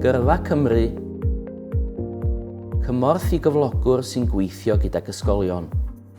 Gyrfa Cymru, Cymorth i gyflogwr sy'n gweithio gydag ysgolion.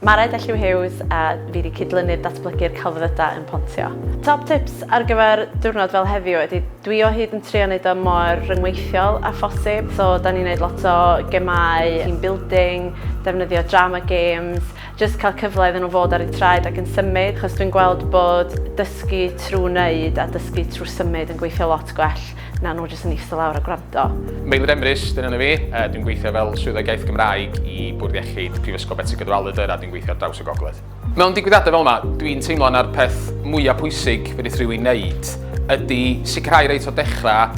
Mared Elliw Hughes a fi wedi cydlynu'r datblygu'r celfyddydau yn Pontio. Top tips ar gyfer diwrnod fel heddiw ydy dwi o hyd yn trio wneud o mor ryngweithiol a phosib so da ni'n wneud lot o gemau, team building, defnyddio drama games, jyst cael cyfle iddyn nhw fod ar eu traed ac yn symud, achos dwi'n gweld bod dysgu trwy wneud a dysgu trwy symud yn gweithio lot gwell na nhw jyst yn eistedd lawr a gwrando. Meilydd Emrys, dyna fi, dwi'n gweithio fel Swyddog Iaith Gymraeg i Bwrdd Iechyd Prifysgol Betsi Cadwaladr a dwi'n gweithio ar draws y Gogledd. Mewn digwyddiadau fel yma, dwi'n teimlo na'r peth mwyaf pwysig fedrith rhywun wneud ydy sicrhau reit o dechrau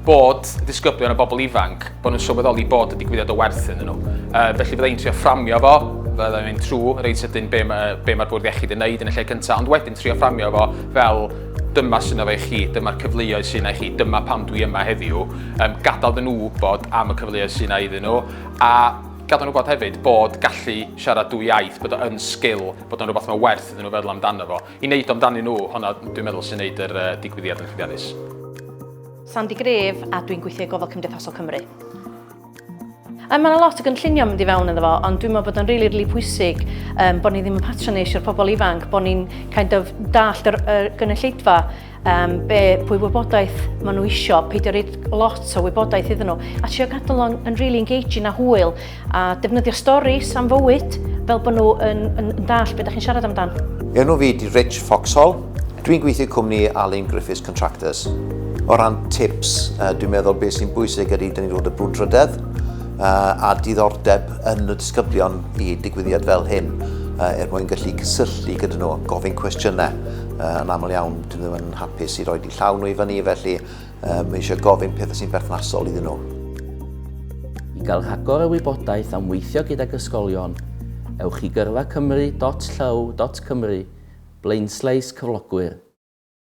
bod y disgyblion a bobl ifanc, bod nhw'n sylweddoli bod y digwyddiad o werth iddyn nhw. Uh, felly fydda i'n trio fframio fo, fydda i'n mynd trwy reit ydyn be, ma, be mae'r bwrdd iechyd yn neud yn y lle cyntaf, ond wedyn trio fframio fo fel dyma sy'n efo i chi, dyma'r cyfleoedd sy'n ei chi, dyma pam dwi yma heddiw, um, gadael dyn nhw wybod am y cyfleoedd sy'n ei iddyn nhw, a gadael nhw wybod hefyd bod gallu siarad dwy iaith, bod o'n sgil, bod o'n rhywbeth mae werth iddyn nhw feddwl amdano fo. I wneud amdanyn nhw, hwnna dwi'n meddwl sy'n wneud yr uh, digwyddiad yn llwyddiannus. Sandy Gref a dwi'n gweithio i Gofal Cymdeithasol Cymru. Mae yna lot o gynllunio mynd i fewn iddo fo, ond dwi'n meddwl bod o'n rili, really, rili really pwysig um, bod ni ddim yn patronage i'r pobl ifanc, bod ni'n kind of dallt yr, yr gynulleidfa, um, be, pwy wybodaeth maen nhw eisiau, peidio reid lot o wybodaeth iddyn nhw, a trio gadael o'n yn really engaging a hwyl. A defnyddio storis am fywyd fel bod nhw yn, yn, yn dall beth ydych chi'n siarad amdan. Enw fi di Rich Foxhall. Dwi'n gweithio cwmni Alun Griffiths Contractors. O ran tips, uh, dwi'n meddwl beth sy'n bwysig ydy dyn ni'n gweld y brwdfrydedd uh, a diddordeb yn y disgyblion i digwyddiad fel hyn uh, er mwyn gallu cysylltu gyda nhw, gofyn cwestiynau. Uh, yn aml iawn, dyn nhw yn hapus i roi di llaw nhw i fyny, felly um, mae eisiau gofyn pethau sy'n berthnasol iddyn nhw. I gael rhagor o wybodaeth am weithio gydag ysgolion, ewch i gyrfa cymru.llyw.cymru, blaenslais cyflogwyr.